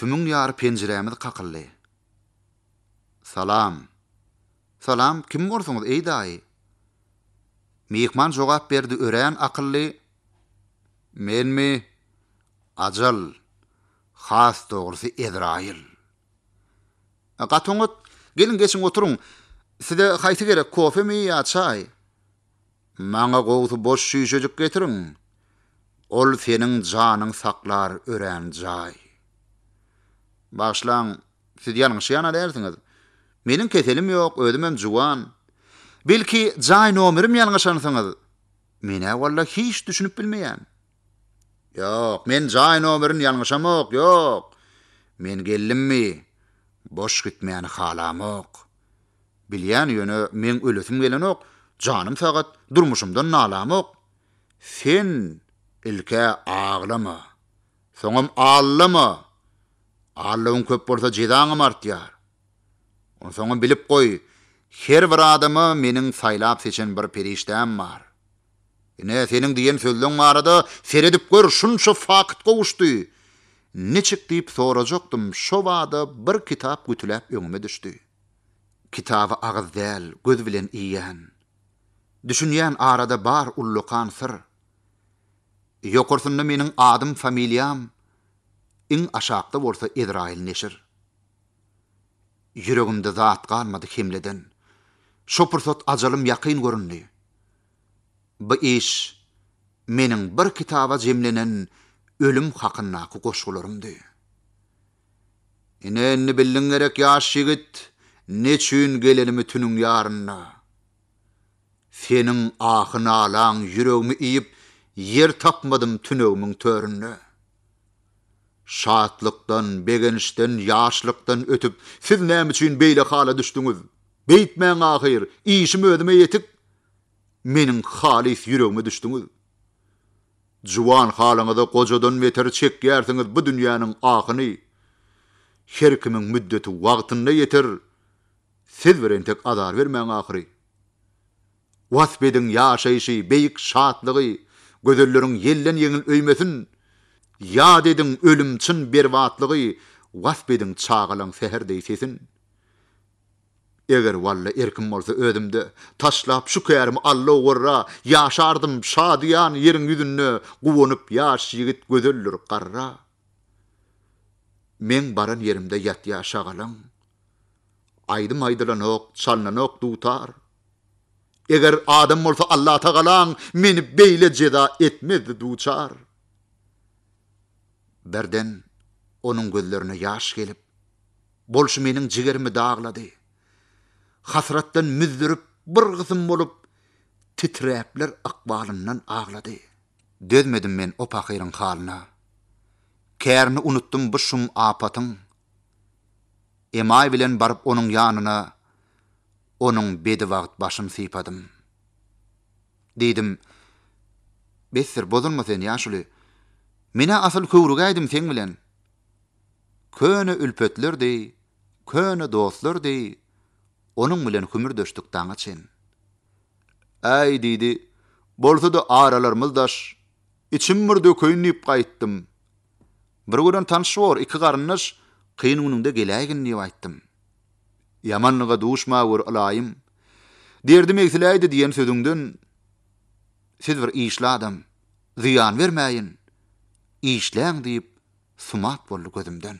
Tümüň ýary penjirämiz kakyldy. Salam. Salam, kim borsuňyz, eý daýy? Myhman jogap berdi örän akylly, Menmi? Ajal. Has dogrusy Ezraýyl. Gaty oňat. Geliň, geçiň oturyň. Size haýsy gerek, kofemi ýa çaý? Maňa gowsy boş çüýşejik getiriň, ol seniň janyň saklar örän jaý. Bagyşlaň, siz ýalňyşýana dälsiňiz. Meniň keselim ýok, özümem juwan. Belki, jaý nomerim ýalňyşansyňyz? Men-ä walla hiç düşünip bilmeýän. Ýok, men jaý nomerini ýalňyşamok, ýok! Men geldimmi, boş gitmäni halamok. Bilýän, ýöne meň ölesim gelenok, janym sagat, durmuşymdan nalamok. Sen ilk-ä aglama, soňam allama! Allawyň köp bolsa, jezaňam artýar. Onsoňam bilip goý, her bir adama meniň saýlap-seçen bir perişdäm bar. Ine, seniň diýen sözleň barada, seredip gör, şunça fakt gowuşdy. Niçik diýip sorajakdym, şo bada bir kitap gütüläp öňüme düşdi. Kitaby agyz däl, göz bilen iýýän. Düşünýän arada bar ullakan syr. Ýokarsynda meniň adym-familiýam, iň aşakda bolsa Ezraýyl neşir. Ýüregimde zat galmady hemleden. Şo pursat ajalym ýakyn göründi. Bu iş meniň bir kitaba jemlenen ölüm hakyndaky goşgularymdy. Ine, indi bildiň gerek, ýaş ýigit, neçün gelenimi tüniň ýarynda. Seniň ahy-nalaň ýüregimi iýip, ýer tapmadym tünegimiň töründe. Şatlykdan, begençden, ýaşlykdan ötüp, siz näme üçin beýle hala düşdüňiz? Beýtmäň ahyr, işim özüme ýetik. Meniň halys ýüregime düşdüňiz. Juwan halyňyza gojadan beter çekýärsiňiz bu dünýäniň ahyny. Her kimiň müddeti wagtynda ýeter, siz bir entek azar bermäň ahyry. Wasp ediň ýaşaýşy, beýik şatlygy, Gözelleriň ýelden-ýeňil öýmesin! Ýat ediň ölüm, çyn berbatlygy, Wasp ediň çagalaň säher deý sesin! Eger walla erkim bolsa özümde, Taşlap şu kärimi Alla ugrra, Ýaşardym şadyýan ýeriň ýüzünde, Guwanyp ýaş ýigit gözeldir garra. Meň baran ýerimde ýatýar şagalaň, Aýdym aýdylanok, çalnanok dutar. Eger adam bolsa Allatagalaň meni beýle jeza etmezdi duçar. Birden onuň gözlerine ýaş gelip, bolşy meniň jigerimi daglady. Hasratdan müzzürip bir gysym bolup titräpler ykbalyndan aglady. Dözmedim men o pahyryň halyna. Kärini unutdym bu şum apatyň. emaý bilen baryp onuň ýanyna onuň bedibagt başyny sypadym. Diýdim, Besdir, bozulma sen, ýaşuly. Men-ä asyl köwrügäýdim seň bilen. Köne ülpetler deý, köne dostlar deý onuň bilen hümürdeşdik daňa çen. Äý, diýdi, bolsa-da aralarymyz daş, içim bir dökeýin diýip gaýtdym. Bir gören tanyş bor, iki garyndaş, kyn günüňde geläýgin diýip aýtdym. Ýamanlyga duşma gör, ylaýym. Derdim egsiläýdi diýen sözüňden Siz bir işli adam, zyýan bermäýin, işläň diýip sumat boldy gözümden.